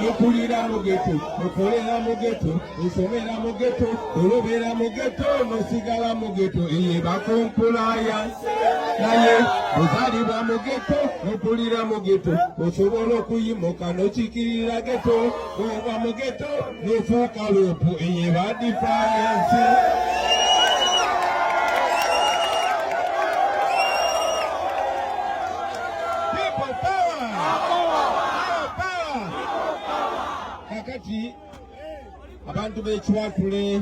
mukulira mu geto mukolera mu geto musomera mu geto olobera mu geto musigala mu geto eye bakumpulaya naye ozalibwa mu geto mukulira mu geto osobola okuyimuka nokikirira geto oba mu geto Nifuuka luupu eye ba defiance. People power. Power power. Kakati abantu b'ekiwatule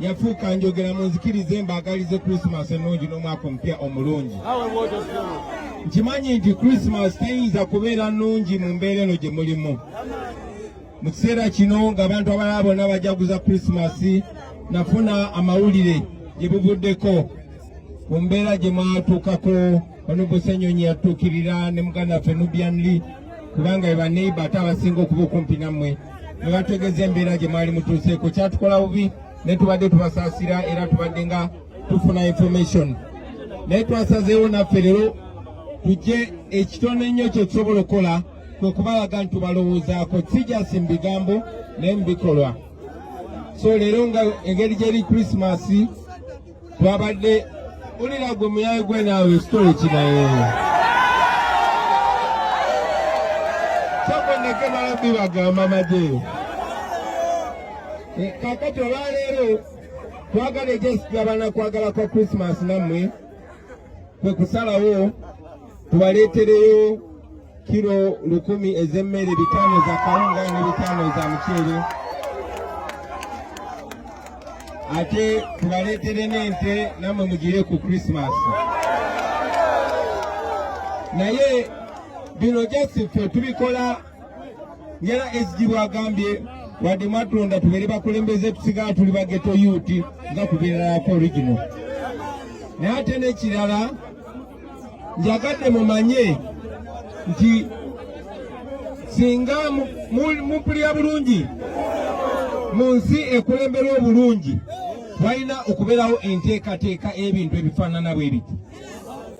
yafuuka njogera munzikirize mbaagalize krisimaasi ennungi n'omwaka omupya omulungi nkimanyi nti krisimaasi teyinza kubeera nnungi mu mbeera eno gye mulimu mu kiseera kino ng'abantu abalala bonna bajaguza krisimaasi nafuna amawulire gye buvuddeko ku mbeera gye mwatuukako Ono Busenyonyi yatuukirira ne muganda waffe Nubian Lee kubanga eba neighbor ate abasinga okuba okumpi nammwe ne bategeeza embeera gye mwali mutuuseeko kyatukola bubi ne tubadde tubasaasira era tubadde nga tufuna information naye twasazeewo naffe leero tujje ekitono ennyo kye tusobola okukola kwe kubalaga nti tubalowoozaako si jasi mu bigambo naye mu bikolwa so leero nga engeri gyeri krisimasi Twabadde ulira gwe muyaye gwe naawe sitole kinaye kyakondeke balabbi bagamba maje eh, kakati olwaleero twagala ejesitulabana kwagala kwa krismas nammwe kwe kusalawo tubaleetereyo kiro lukumi ez'emmere bitaano za kawunga ne bitaano za muceere ate tubaleetere n'ente nammwe mugire ku krisimaasi naye bino just ffe tubikola ngera ezigibu agambye wadde mwatulonda tubeere bakulembeze tusigala tuli bageto yuti nga kubeererako original naye ate n'ekirala njagadde mumanye nti singa mumpulira bulungi mu nsi ekulemberwa obulungi walina okubeerawo enteekateeka ebintu ebifaanana bwe biti